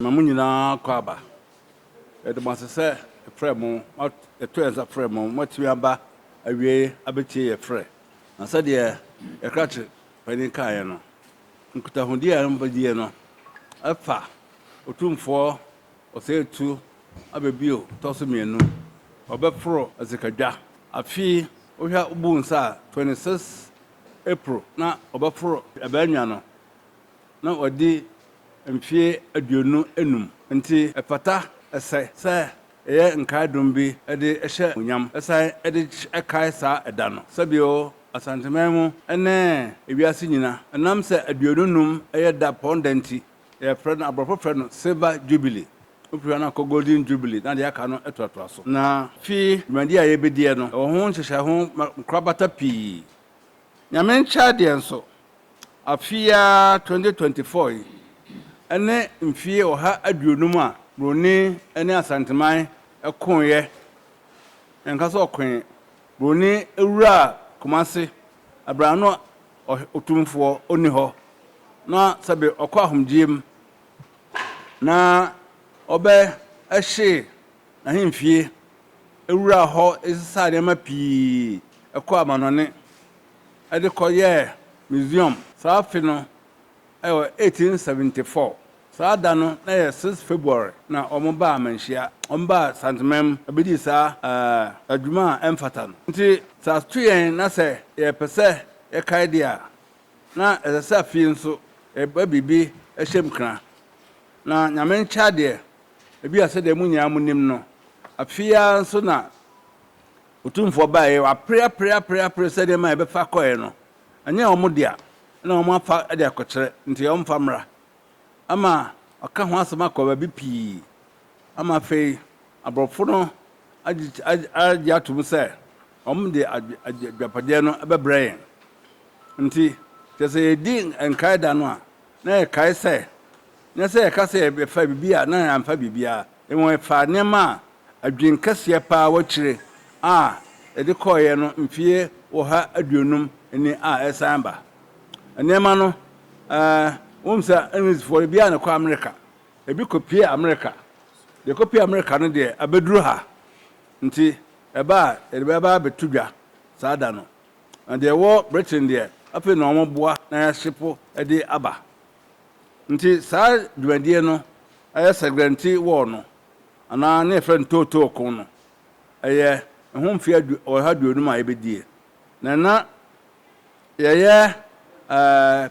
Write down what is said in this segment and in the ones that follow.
Ma mo nyinaa akɔ aba. Yɛda mo ase sɛ yɛfrɛɛ mo, yɛtoo yɛn nsa frɛɛ mo, moatumi aba awiei abɛtie yɛn frɛ. Na sɛdeɛ yɛn krakye panin kaeɛ no, nkutahodie a mobɛdie no fa Otumfoɔ Ɔsɛetu aba bio tɔ so mmienu. Wɔbɛforo asikadwa. Afe yi, wohwɛ wobu nsa a, 26 April na wɔbɛforo Ɛbɛnwa no. na ɔadi mfeɛ aduonu enum. Enti ɛfata, ɛsɛ, sɛ yɛyɛ nkaedom bi de hyɛ animuonyam san de kae saa ɛda no. Sɛbio, Asanteman mu ne ewiase nyina, ɛnam sɛ aduonu nnum yɛ da pɔn da nti, yɛfrɛ no, aborɔfo frɛ no Silver Jubilee. Wofiri hɔ no akɔ Golden Jubilee na deɛ aka no toatoa so. Na fi dwumadie a yɛbɛdiɛ no, ɛwɔ ho nhyehyɛe ho nkorabata pii. Nyame nkyɛr deɛ nso, afe yi ara 2024 yi ne mfie ɔha aduonum a Broni ne Asanteman koeɛ, yɛnka sɛ ɔkoe, Broni wuraa Kumase berɛ a na ɔh Otumfoɔ ɔnni hɔ, na sɛbe ɔkɔ ahomgyeɛ mu na ɔbɛhye N'ahemfie wuraa hɔ sesaa nneɛma pii kɔɔ amannɔne de kɔyɛɛ museum. Saa afe no yɛ 1874. Saa da no na ɛyɛ 6 February na wɔbaa amanhyia. Wɔbaa Santemanm bedii saa adwuma a ɛmfata no. Nti sɛ ato yɛn na sɛ yɛpɛ sɛ yɛkae de a, na ɛsɛ sɛ afei nso yɛba biribi hyɛm kena. Na Nyame nkyɛ adeɛ Ebia sɛdeɛ mo nyinaa monim no, afe yi ara nso na Otumfoɔ baeɛ. Wɔapere apere apere apere sɛ nneɛma a yɛbɛfa kɔeɛ no, ɛnyɛ wɔn dea, ɛna wɔafa de akɔkyerɛ, nti wɔmfa mmra. Ama wɔaka ho asɛm akɔ baabi pii. Ama afei aborɔfo no agye atom sɛ wɔde agyapadeɛ no bɛbrɛ yɛn. Nti, kyerɛ sɛ yɛdi nkae da no a, na yɛkae sɛ na sɛ yɛka sɛ ɛfa biribi a, na ɛmfa biribiara. Mmom ɛfa nneɛma a adwene kɛseɛ pa ara wɔ akyire a ɛde kɔeɛ no mfeɛ ɔha aduonum ni a ɛresan aba. Nneɛma no, eh, wonim sɛ Englishfoɔ no, ebiara na ɛkɔ Amerika. Ebi kɔpue Amerika. Deɛ ɛkɔpue Amerika no deɛ, abɛduru ha. Nti ɛba a, yɛde bɛba abɛto dwa saa da no. Na deɛ ɛwɔ Britain deɛ, afei na wɔboa na yɛahyepo de aba. Nti saa dwumadie no ɛyɛ Sɛgrɛnti Wɔɔ no anaa ne yɛfrɛ no Tootoo Ko no ɛyɛ ɛho mfeɛ ɔha aduonum a yɛbɛdie na ɛna yɛyɛ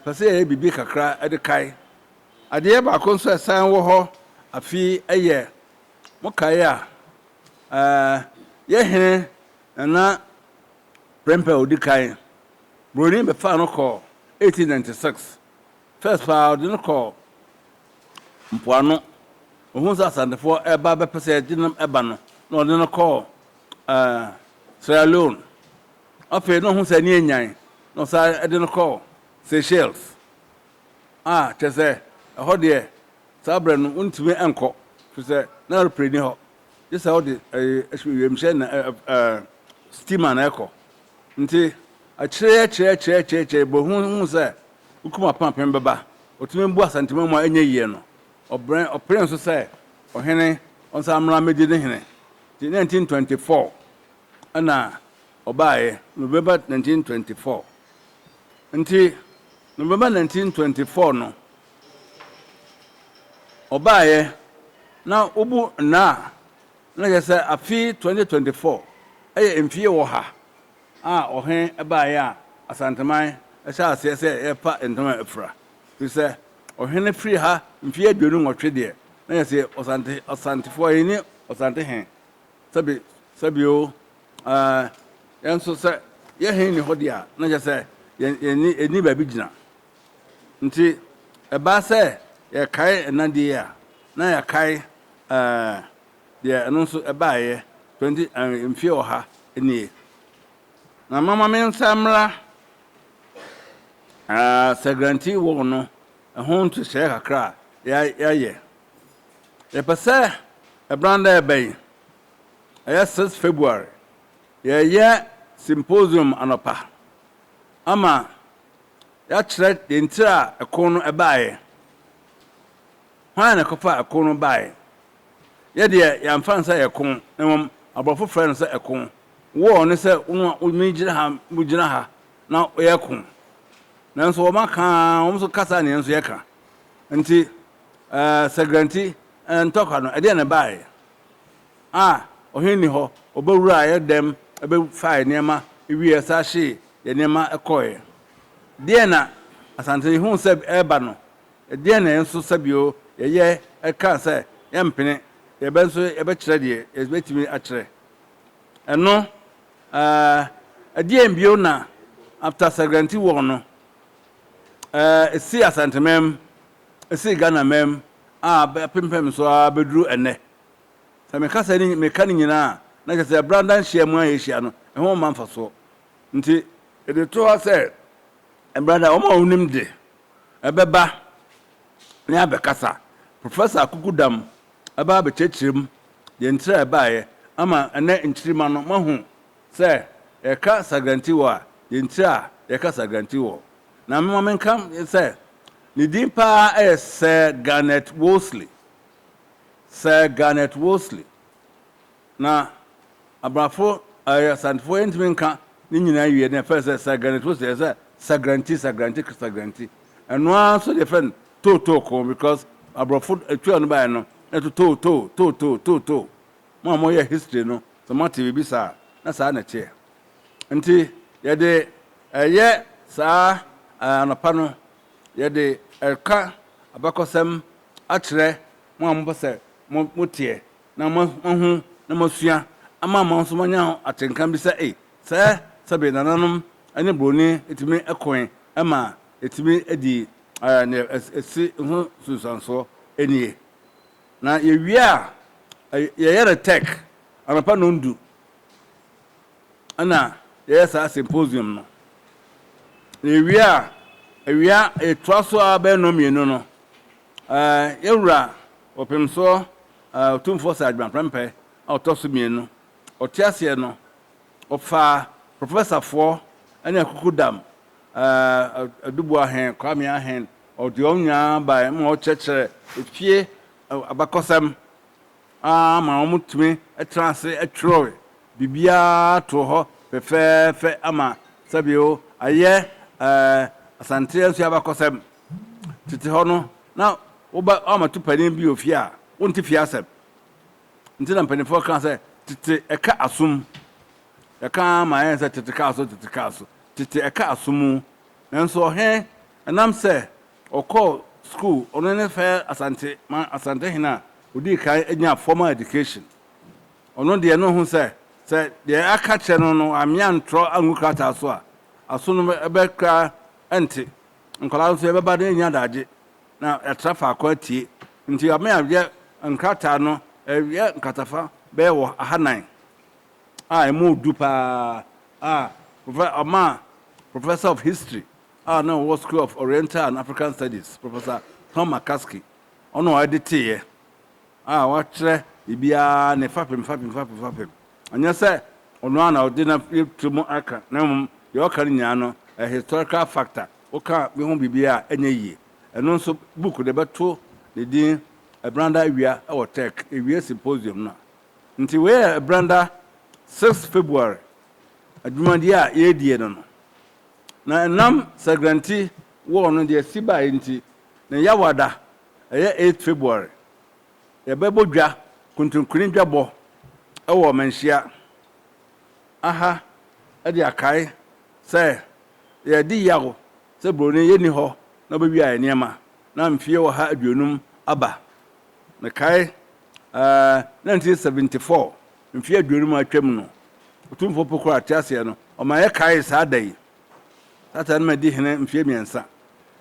pɛ sɛ yɛyɛ biribi kakra de kae. Adeɛ baako nso a ɛsan wɔ hɔ afi ɛyɛ mo kae a yɛ hene Nana Prempeh a ɔdi kan Buroni bɛfaa no kɔɔ 1896. First paa ɔde no kɔɔ mpoano, ohuu sɛ Asantefoɔ reba abɛpɛ sɛ ɛgye no ba no, na ɔde no kɔɔ ɛɛ Sierra Leone. Afei na ɔhu sɛ ani anyan, na ɔsan de no kɔɔ Seychelles, a kyerɛ sɛ ɛhɔ deɛ saa berɛ no wontumi nkɔ, ɛfiri sɛ na aeroplane nni hɔ. gye sɛ ɔde wiemhyɛn na steamer na ɛkɔ. Nti akyire akyire akyire akyire akyire bɔ hu hu sɛ wokum apenapem bɛba. Ɔtumi bu Asantemamu a ɛnyɛ yie no. Ɔbrɛn ɔpere nso sɛ ɔhene ɔnsan mmra mmɛdi ne hene. Nti 1924 ɛna ɔbaeɛ November 1924. Nti November 1924 no ɔbaeɛ na wobu nna a na kyerɛ sɛ afe 2024 yɛ mfeɛ ɔha a ɔhene baeɛ a Asanteman hyɛɛ aseɛ sɛ yɛrepa ntoma afira. Ɛfiri sɛ ɔhene firii ha mfeɛ aduonu nwɔtwe deɛ na yɛse ɔsante ɔsantefoɔ yɛn ni ɔsante he sɛbi sɛbi o ɛɛ yɛn nso sɛ yɛ he nni hɔ deɛ a na kyerɛ sɛ yɛn yɛn ni yɛn ni baabi gyina Nti ɛbaa sɛ yɛkae ɛna deɛ yi a, na yɛakae ɛɛ deɛ ɛno nso ɛbaeɛ, twenty ɛɛ mfie ɔha nie. Na mama me nsa mmra ɛɛ Sɛgranti wɔɔ no ɛho nhyehyɛeɛ kakra a yɛ yɛayɛ. Yɛpɛ sɛ ɛbran dɛ ɛbɛ yi, ɛyɛ six February, yɛyɛ symposium anɔpa ama. yɛakyerɛ deɛ nti a ɛko no baeɛ, hwan na ɛkɔfaa ɛko no baeɛ. Yɛ deɛ, yɛamfa no sɛ ɛko, na mmom aborɔfo frɛɛ no sɛ ɛko. War ne sɛ wo na megyina ha, wogyina ha na yɛreko. Nanso wɔn aka ara, wɔn nso ka saa na yɛn nso yɛka. Nti, eh, Sɛgrɛnti eh, ntɔkwa no, ɛdeɛn na ɛbaeɛ? A ɔhene nni hɔ, wɔbɛwuraa yɛn dɛm bɛfaa yɛn nneɛma wiee ɛsan hyee yɛn nneɛma kɔeɛ. Deɛn na Asante huu sɛ ɛreba no? Deɛn na yɛn nso sɛbio yɛyɛ ɛkaa sɛ yɛmpene, yɛbɛ nso yɛbɛkyerɛ deɛ yɛbɛtumi akyerɛ? Ɛno ɛɛ ɛdeɛn bio na after Sagrantee war no ɛɛ ɛsii Asanteman mu, ɛsii Ghana man mu a bɛpempɛm so ara bɛduru ɛnnɛ? Sɛ meka sɛ ne meka ne nyinaa a, na kyerɛ sɛ branda nhyiam a yɛhyia no, ɛho mma mfasoɔ. Nti, ɛde to hɔ sɛ brada, wɔn a wɔnim de, ɛbɛba na yɛabɛkasa. Professor Akuku Dam aba abɛkyerɛkyerɛ mu deɛ ntira a ɛbaeɛ ama ɛnnɛ nkyirimma no. Moahu sɛ yɛka Sagrantiwɔ a, deɛ ntira a yɛka Sagrantiwɔ. Na momma menka sɛ ne din pa ara yɛ Sir Garnet Wolseley. Sir Garnet Wolseley. Na Abrafo, ɛɛ, Asantefoɔ yɛntumi nka ne nyinaa nwie, na yɛfrɛ sɛ Sir Garnet Wolseley, ɛsɛ sɛ Sagranti, Sagranti, Sagranti. Ɛno ara nso na yɛfrɛ no Too Too Ko because Aborɔfo ɛtua no baeɛ no, na ɛto too, too, too, too, too, too. Mo a moyɛ history no, sɛ moate biribi saa a, na saa na ɛteɛ. Nti, yɛde ɛyɛ saa, ɛɛ, anɔpa no, yɛde ɛka abakɔsɛm akyerɛ mo a mopɛ sɛ moteɛ na moahu na moasua ama mo nso moanya atenka bi sɛ ei, sɛɛ sɛbe nananom ne buroni tumi koe ma ɛtumi dii nea ɛsi ho nsunsuansoɔ nie. Na yɛwie a, yɛyɛ no tech anɔpa nnɔndu. na yɛyɛ saa symposium no. Yɛwie a, awia ɛtoa so ara bɛyɛ nnɔnmienu no, yɛn wura Ɔpemsoɔ Otumfoɔ Sir Adwuma Prempeh a ɔtɔ so mmienu, ɔte aseɛ no, ɔfaa professor-foɔ ne Akukudam Aduboa Hen Kwame Ahen, ɔde wɔn nyinaa baeɛ ma wɔkyerɛkyerɛɛ efie abakɔsɛm. ara ma wɔtumi traa ase twerɛɛ biribiara too hɔ fɛfɛɛfɛ ama sɛbio ayɛ Asanteɛ nso abakɔsɛm. Tete hɔ no, na woba woammɛto panin bi wɔ fie a, wonte fie asɛm. Nti na mpanimfoɔ kaa sɛ, tete ɛka asom. Yɛka ara ma ayɛ sɛ tete kaa so, tete kaa so. Tete ɛka asom. Nanso ɔhene, ɛnam sɛ Ɔkɔɔ sukuu, ɔno ne fɛɛ Asante ma Asantehene a ɔdii kan nyaa formal education. Ɔno deɛ na ɔhu sɛ, sɛ deɛ aka kyerɛ no no ammea antrɔ angu krataa so a, aso no bɛ kura ɛnte. Nkwadaa nso yɛbɛba na yɛnya adagye na yɛatra faako atie. Nti ammea yɛ nkrataa no, ɛyɛ nkratafa bɛyɛ wɔ aha nan a ɛmu du paa a ɔmaa Professor of History a na ɔwɔ School of Oriental and African Studies, Professor Tom McCaskey, ɔno a ɔde teeɛ a wakyerɛ biribiara ne fapem fapem fapem fapem. Ɛnyɛ sɛ ɔno ara na ɔde n'atiri mu aka, na mmom deɛ ɔka no nyinaa no, ɛyɛ historical fact a woka bi ho biribi a ɛnyɛ yie. Ɛno nso, book no yɛbɛto ne din Ɛbranda Awia wɔ Turk, Yɛwie symposium no a. Nti wei yɛ Ɛbranda six February adwumadie a yɛredie no no. Na ɛnam Sagrante War no deɛ ɛsi baeɛ nti, ne Yawada ɛyɛ eighth February. Yɛbɛbɔ dwa, Kontonkini dwabɔ wɔ Manhyia aha de akae sɛ yɛredi yaw sɛ Broni yɛnni hɔ na ɔbɛwia yɛn nneɛma na mfeɛ ɔha aduonum aba. Mekae ɛɛ nineteen seventy four. Mfe aduonum a atwam no, Otumfoɔ Po Koro Ateaseɛ no, ɔma yɛkaee saa da yi. Satan no ma edii hene mfe mmiɛnsa.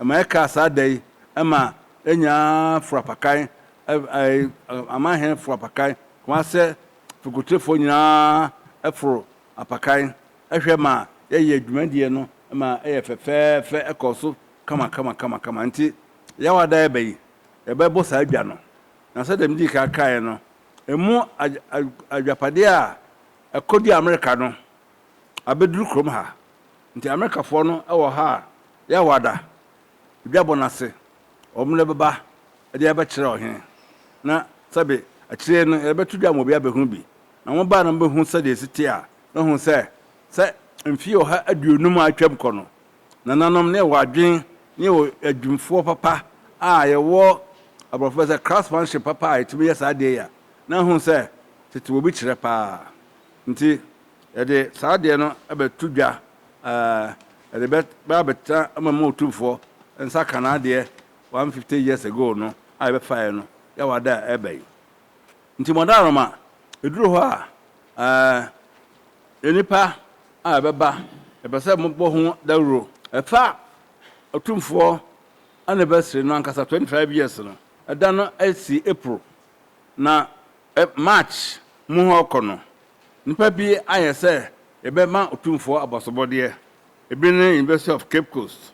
Ɛma yɛkaa saa da yi ma enyaa furapakan, amanhene furapakan, Kumase fikutefoɔ nyinaa foro apakan hwɛ ma yɛyɛ dwumadie no ma ɛyɛ fɛfɛɛfɛ, ɛkɔɔ so kamakamakamakama. Nti, Yawada ɛba yi, yɛbɛbɔ saa dwa no. Na sɛdeɛ medii kan kaeɛ no, Emu adwapade a ɛkɔduu Amerika no abɛduru kurom ha. Nti Amerikafoɔ no wɔ ha a, yɛwɔ ada, dwabɔ no ase, wɔn de bɛba de abɛkyerɛ ɔhene, na sɛbe akyire no yɛbɛto dwa ma obi abɛhunu bi. Na wɔn baa na wɔbɛhunu sɛdeɛ ɛsi teɛ a, na wɔhunu sɛ, sɛ mfeɛ ɔha aduonum a atwam kɔ no, Nananom ne yɛwɔ adwen ne yɛwɔ adwumfoɔ papa a yɛwɔ abrɔfo bɛ sɛ craftsmanship papa a yɛtumi yɛ saa adeɛ yi a na ahunu sɛ tete wɔ bi kyerɛ paa nti yɛde saa adeɛ no bɛ to dwa yɛde bɛ bɛ abɛtena ama mu otumfoɔ nsa ka n'adeɛ 150 years ago no a yɛbɛfaeɛ no yɛwɔ ada a ɛba yi. Nti Mɔdɔaarɔma, eduru hɔ a, eh, nnipa a ɛbɛba, yɛpɛ sɛ mobɔ ho dawuro. Ɛfa Otumfoɔ anniversary no ankasa, 25 years no, ɛda no si April, na eh, March mu hɔ rekɔ no, nnipa bi ayɛ sɛ yɛbɛma Otumfoɔ abɔsobɔdeɛ. Ebi ne University of Cape Coast,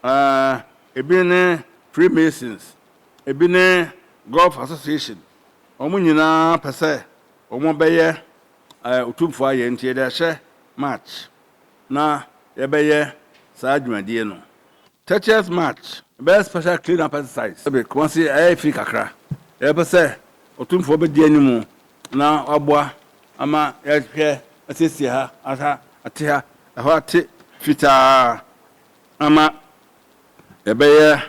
eh, ebi ne Freemasons, Ebi ne Golf Association, wɔn nyinaa pɛ sɛ wɔbɛyɛ Otumfoɔ ayɛ nti yɛde ahyɛ March na yɛbɛyɛ saa dwumadie no. Tetcheers March bɛyɛ special clean up exercise. Kumasi ayɛ fi kakra, yɛpɛ sɛ Otumfoɔ bɛdi anim na waboa ama yɛahwɛ asiesie ha, aha ate ha, ɛhɔ ate fitaa ama yɛbɛyɛ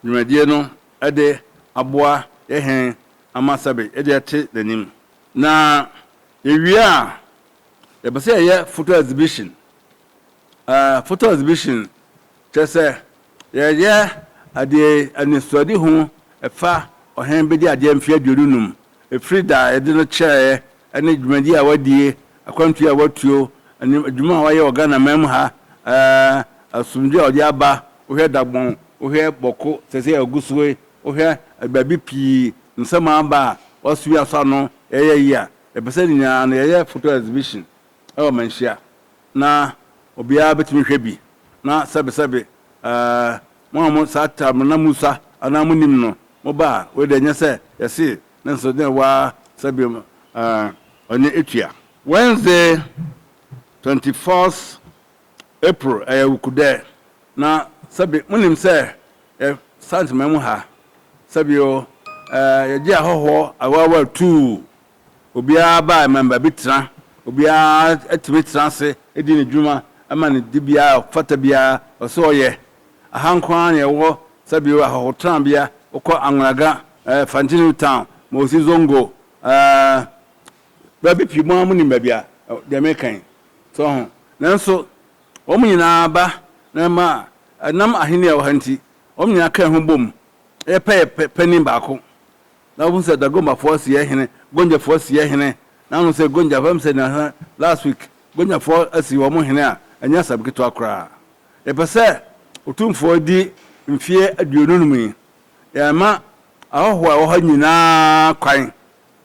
dwumadie no de aboa yɛ hɛn ama sɛbe yɛde atse n'enyim. Na yewie a, yɛpɛ sɛ yɛyɛ photo exhibition. Ɛɛ, photo exhibition kyerɛ sɛ yɛyɛ adeɛ anisoadehu fa ɔhen bɛdi adeɛ mfeɛ aduonu num firi da a yɛde no kyerɛeɛ ne dwumadie a wadie, akwantuo a watuo, ne adwuma a wayɛ wɔ Ghanaman mu ha, asomdwoeɛ a ɔde aba, wohwɛ Dagbon, wohwɛ Bawku, seesei a ɔgu so yi, wohwɛ baabi pii, nsɛm a aba a wasua asɔ ano, yɛyɛ yi a, yɛpɛ sɛ ne nyinaa no yɛyɛ photo exhibition wɔ Manhyia na obiara bɛtumi hwɛ bi, na sɛbesɛbe mo a mo saa taabre no na mosua anaa monim no, moba a, wei deɛ nyɛ sɛ yɛse Nanso dɛn wa sa biom ah ɔne etua. Wednesday twenty fourth April ɛyɛ wukudɛ na sɛbi mo nim sɛ yɛ sant mɛ mu ha sɛbi o eh yɛ gye ahɔhoɔ awaawa tuu obiara baa mɛmba bi tena obiara ɛtumi tena ase ɛdi ne dwuma ɛma ne di biara ɔfata biara ɔsɛ ɔyɛ. Aha nko ara na yɛwɔ sɛbeo ahɔhotrabea, wokɔ Angraga, eh, Fantinu Town, Moussy Zongo, eh, baabi pii, mo ara monim baabi a eh, deɛ meka yi. So ho? Nanso, wɔn nyinaa ba na ɛma a, ɛnam ahenni a ɛwɔ ha nti, wɔn nyinaa ka ho bom, yɛ pɛ yɛ pɛ, panin baako. Na wohu sɛ Dagombafoɔ si yɛ hene, Gonjafoɔ si yɛ hene, na ano sɛ Gonja, fam sɛ nasa, last week, Gonjafoɔ asi wɔn hene a, ɛnyɛ asɛm ketewa koraa. Yɛpɛ sɛ Otumfoɔ di mfeɛ aduonu nom yi. Yɛrema ahɔhoɔ a ɛwɔ hɔ nyinaa kwan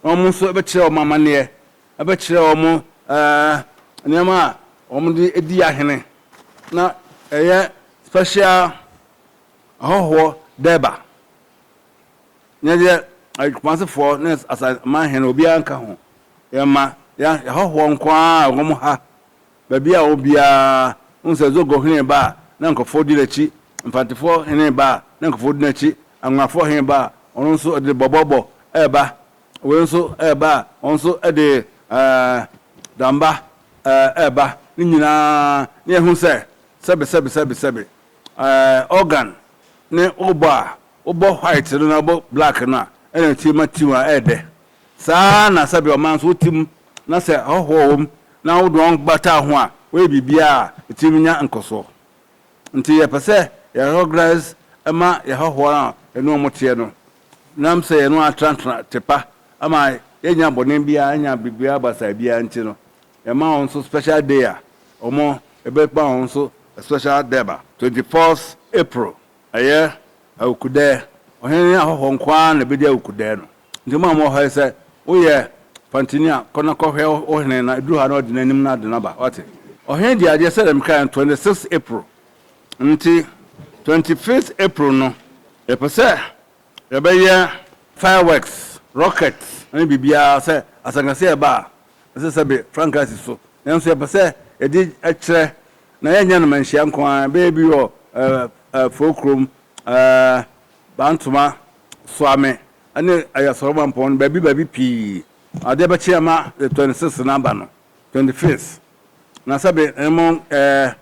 na wɔn nso bɛkyerɛ wɔn amanneɛ, bɛkyerɛ wɔn nneɛma a wɔde di ahene na ɛyɛ special ahɔhoɔ Durbar. Ɛnyɛ deɛ Kumasefoɔ ne Asaman hene obiara nka ho. Yɛma yɛn ahɔhoɔ nko ara a wɔwɔ ha Baabi a ɔwɔ biara, wohu sɛ Zogor hene reba a, na nkurɔfoɔ di n'akyi, Mfantefoɔ hene reba a, na nkurɔfoɔ di n'akyi, Angonafoɔ hene reba a, ɔno nso ɔde bɔbɔbɔ reba, wei nso reba a, ɔno nso de damba reba. Ne nyinaa, na yɛhu sɛ, sɛbe, sɛbe, sɛbe, sɛbe, organ ne wobɔ a wobɔ white no na wobɔ black no a, ɛna ɛtumi ma tune a ɛyɛ dɛ. Saa ara na sɛbe ɔman nso wo tsim na sɛ ahɔho wɔ hom na wodze hɔn bata ho a, wɔyɛ biribiara a etsir nya nkɔsoɔ. Ntsi yɛpɛ sɛ yɛ reorganise ma yɛ ahɔho a yɛne hɔn tseɛ no, na sɛ yɛne hɔn atsenatsena tse pa ama yɛnnya bɔne biara, yɛnnya biribiara basaa biara ntsi no, yɛma hɔn nso special day a wɔn yɛbɛma hɔn nso special dɛba. Twenty fourth April, ɛyɛ Awukudaɛ. Ɔhen ne ahɔhoɔ nko ara na ɛbɛdi Awukudaɛ no. Nti mo a mowɔ ha yi sɛ woyɛ pantini a kɔ na kɔhwɛ wo hene na ɛduru ha na ɔde n'anim na ade no aba. Wate? Ɔhene di adeɛ sɛdeɛ mekaeɛ no 26 April. Nti 25th April no yɛpɛ sɛ yɛbɛyɛ fireworks, rocket ne biribiara sɛ asankasi a ɛba a ɛsɛ sɛ be frankaa si so. Nanso yɛpɛ sɛ yɛde kyerɛ na yɛnyɛ no manhyia nko ara, ɛbɛyɛ bi wɔ ɛɛ ɛɛ Foo Krom, ɛɛ Bantoma Soa me ne Ayasɔrɔmampɔn no baabi baabi pii, adeɛ bɛkye ama the twenty sixth no aba no, twenty fifth, na sɛbe mo ɛɛ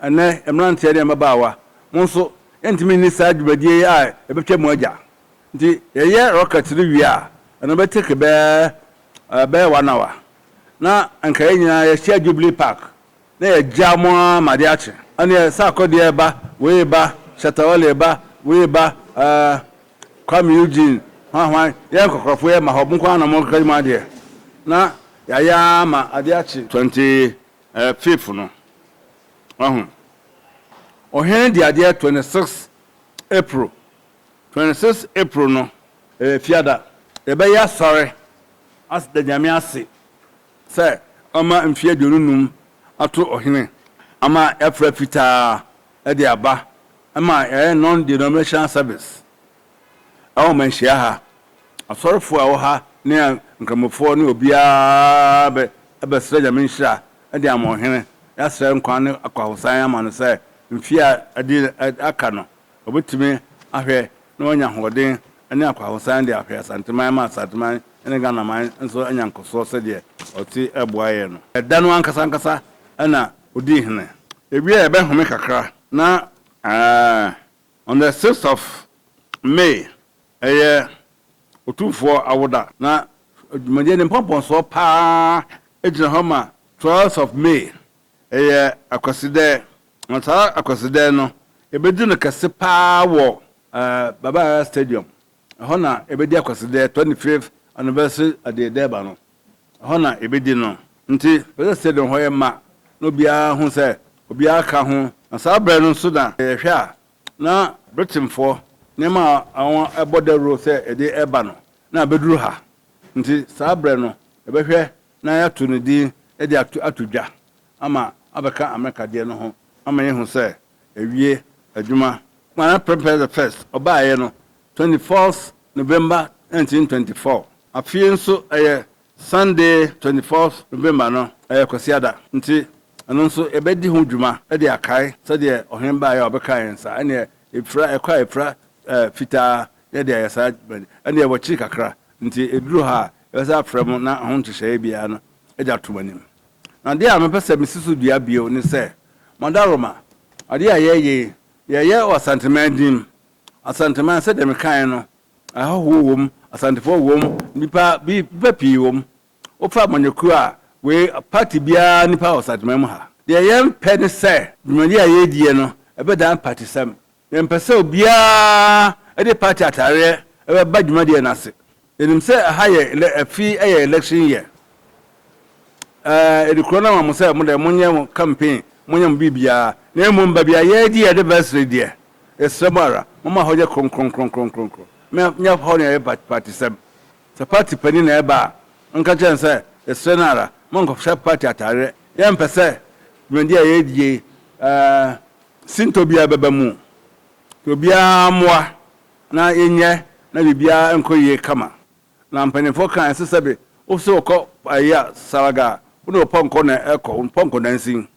ɛnɛ mmeranteɛ ne mmabaawa mo nso yɛntumi nni saa dwumadie yi a ɛbɛtwa mu agya nti yɛyɛ rocket no wie a ɛno bɛ take bɛɛ ɛɛ bɛyɛ one hour na nka yɛn nyinaa yɛhyia Jubilee Park na yɛagyaa mo ara ma ade akye, ɛnneɛ sɛ akɔdeɛ reba, wei reba, Shatta Wale reba, wei reba, eh, Kuami Eugene, hwan hwan, yɛyɛ nkɔkorɔfoɔ, yɛma hɔ, mo nko ara na morekeka mo adeɛ, na yɛayɛ ara ma ade akye. Twenty eh, fifth no, wahu, ɔhene de adeɛ twenty six April, twenty six April no, ɛyɛ Fiada, yɛbɛyɛ asɔre, as da Nyame ase. sɛ ɔma mfe aduonu num ato ɔhene ama ɛfra fitaa de aba ma ɛyɛ non-denominational service ɛwɔ manhyia ha asɔrefoɔ a ɛwɔ ha ne nkramofoɔ ne obiara bɛsrɛ nyame nhyira de ama ɔhene yɛasrɛ nkwa ne akwahosan ama no sɛ mfeɛ a ɛde aka no Wɔbɛtumi ahwɛ na wɔanya ahoɔden ne akwahosan de ahwɛ Asanteman ma Asanteman ne Ghanaman nso anya nkɔsoɔ sɛdeɛ ɔte boaeɛ no. Ɛda no ankasa ankasa na ɔdii hene. Ɛwieɛ yɛbɛhome kakra na on the sixth of May ɛyɛ Otumfoɔ awoda na dwumadie no mpɔmpɔnsoɔ pa ara gyina hɔ ma twelfth of May Eyɛ Akwasidɛɛ, na saa Akwasidɛɛ no ebedi no kɛse paa wɔ Baba Yara Stadium. Ɛhɔ na ebedi Akwasidɛɛ twenty fifth anniversary Adie Durbar no. Ɛhɔ na ebedi no. Nti yɛpɛ sɛ stadium hɔ yɛ ma na obiara hu sɛ obiara ka ho. Na saa berɛ no nso na yɛhwɛ a na Britainfoɔ nneɛma a wɔabɔ dawuro sɛ yɛde reba no na abeduru ha. Nti saa berɛ no yɛbɛhwɛ na yɛato no din de ato ato dwa ama abɛka Amerika deɛ no ho ama yɛahu sɛ awie adwuma. Kwara Prempeh the First ɔbaeɛ no twenty fourth November nineteen twenty four. Afei nso ɛyɛ Sunday twenty fourth November no ɛyɛ Kwasiada nti ɛno nso yɛbɛdi ho dwuma de akae sɛdeɛ ɔhene baeɛ a ɔbɛkaa yɛn saa ɛnneɛ ɛfira ɛkɔ a ɛfira fitaa yɛde ayɛ saa ɛnneɛ wɔkyiri kakra nti ɛduru ha a Yɛbɛsan afrɛ mo na ho nhyehyɛeɛ biara no de ato mo anim. Na adeɛ a mepɛ sɛ mesi so dua bio ne sɛ, mo adaworoma, adeɛ a yɛreyɛ yi, yɛreyɛ wɔ Asanteman din mu. Asanteman, sɛdeɛ mekaeɛ no, ahɔhoɔ wɔ mu, Asantefoɔ wɔ mu, nnipa bi, nnipa pii wɔ mu. Wofa amanyɔkuo a, wei, party biara nnipa wɔ Asanteman mu ha. Deɛ yɛmpɛ ne sɛ, dwumadie a yɛrediɛ no, ɛbɛdan partysɛm. Yɛmpɛ sɛ obiara de party ataareɛ bɛba dwumadie no ase. Yɛnim sɛ ɛha yɛ elɛ afi yɛ election year. Yɛde kuro no ama mo sɛ mo deɛ monyɛ mo campaign, monyɛ mo biribiara. Na mmom baabi a yɛredi yɛn anniversary deɛ, yɛsrɛ mo ara, momma hɔ nyɛ kronkronkronkron. Monyɛ hɔ nea ɛyɛ partysɛm. Sɛ party panin na ɛreba a, monka nkyerɛ no sɛ yɛsrɛ no ara, monnkɔhyɛ party ataareɛ. Yɛmpɛ sɛ dwumadie a yɛredi yei Sintɔ biara bɛba mu. Nti obiara mmoa na yɛnyɛ na biribiara nkɔ yie kama. Na mpaninfoɔ kaa ɛnso sɛbe wo sɛ wokɔ ayi a saraga a wo ne wo pɔnkɔ na ɛkɔ, wo pɔnkɔ nansin.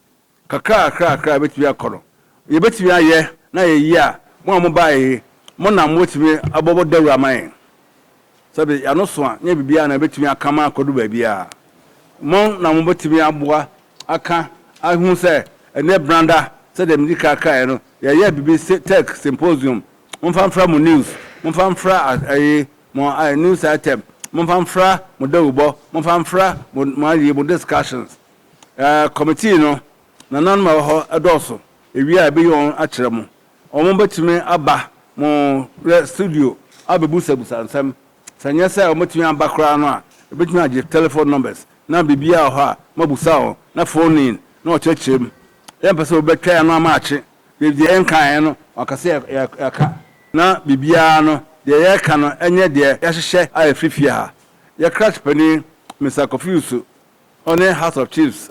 Kakra kakra kakra bɛtumi akɔ no yɛbɛtumi ayɛ na yɛyi a mo a mo baeɛ yi mo na mobɛtumi abɔ dawuro ama yɛn. Sɛbe y'ano so a, nyɛ biribiara na ebetumi aka ma akɔdu baabiara. Mmɔn na wɔbetumi aboa aka ahu sɛ ɛnyɛ branda, sɛdeɛ medi kan kaeɛ no, yɛyɛ biribi se tech symposium, momfa mfra mo news, momfa mfra ayi, mo ayi, news item, momfa mfra mo dawubɔ, momfa mfra mo, mo ayi, mo discussions. Ɛɛ, committee no, nananom a ɛwɔ hɔ dɔɔso, ewie a ebeyi wɔn akyerɛ mo, Wɔbɛtumi aba mo studio abɛbusabusua nsɛm. Sɛ ɛnyɛ sɛ wɔbɛtumi aba koraa no a, yɛbɛtumi agye telephone numbers na biribiara wɔ hɔ a moabisa wɔn na phone in na wɔkyerɛkyerɛ mu. Yɛmpɛ sɛ wobɛtwɛn ano ama akye. Yɛ deɛ yɛnkaeɛ no wɔaka sɛ yɛka na biribiara no deɛ yɛreka no nyɛ deɛ yɛahyehyɛ a ɛfiri fie ha. Yɛ crash panin Mister Kofi Usu, ɔne House of Chiefs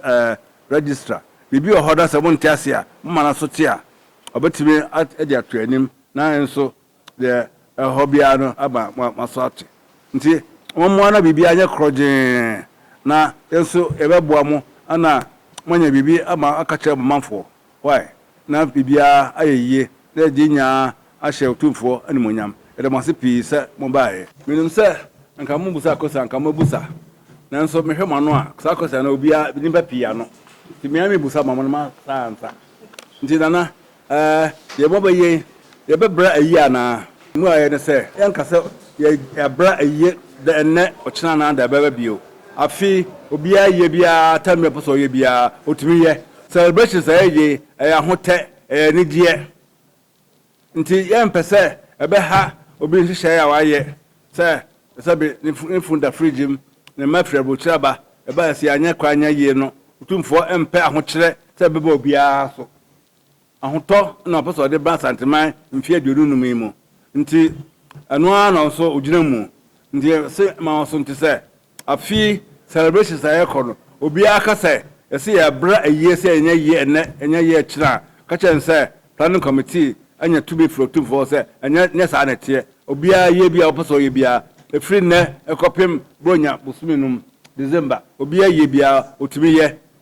Registrar. Biribi wɔ hɔ na sɛ monte aseɛ a moma no so te a, Ɔbɛtumi de ato anim na nso deɛ ɛhɔ biara no aba mo mo aso ate. Nti mommoa na biribiara nyɛ korɔgyee na yɛn nso yɛbɛboa mo na moanya biribi ama aka akyerɛ mo manfoɔ. Wai na biribiara ayɛ yie na yɛde nyinaa ahyɛ Otumfoɔ animuonyam. Yɛda mo ase pii sɛ mobaeɛ. Menim sɛ anka mommisa question anka mɛbusa nanso mehwɛ mo ano a saa question no obiara nnipa pii ano nti me ara mebusa ma mo na moansa ansa. Nti Nana, ɛɛ, deɛ mobɛ yɛ yi, yɛbɛ bra ayie anaa? Mmuaeɛ ne sɛ, yɛnka sɛ yɛ, yɛabra ayie dɛ ɛnnɛ, ɔkyena anaa da ɛbɛba bio. Afei, obiara ayie biara, tam biara ɔpɛ sɛ ɔyɛ biara, ɔtumi yɛ. Celebration saa ayie, ɛyɛ ahotɛ, ɛyɛ anigyeɛ. Enti yɛmpɛ sɛ ɛbɛha obi nhyehyɛe a wayɛ sɛ sɛbe ne funu da fridge mu, ne mma firi aburokyiri aba, ɛba a ɛsɛ anyɛ koraa nyɛ yie no. Otumfoɔ mpɛ ahokyerɛ sɛ ɛbɛba obiara so. Ahotɔ na ɔpɛ sɛ ɔde ba Asanteman mfe aduonu nnum yi mu. Enti ɛno ara na ɔwɔ sɛ ogyina mu. Enti yɛse ma wɔsonte sɛ Afei celebrations a yɛkɔ no obiara ka sɛ yɛse yɛbra ayie sɛ yɛnyɛ yie ɛnɛ yɛnyɛ yie kyena a ka kyerɛ no sɛ planning committee anya tumi firi otumfoɔ hɔ sɛ ɛnyɛ nyɛ saa na ɛteɛ obiara yie biara ɔpɛ sɛ ɔyɛ biara ɛfiri nnɛ ɛkɔpem borɔnya bosome nom December obiara yie biara ɔtumi yɛ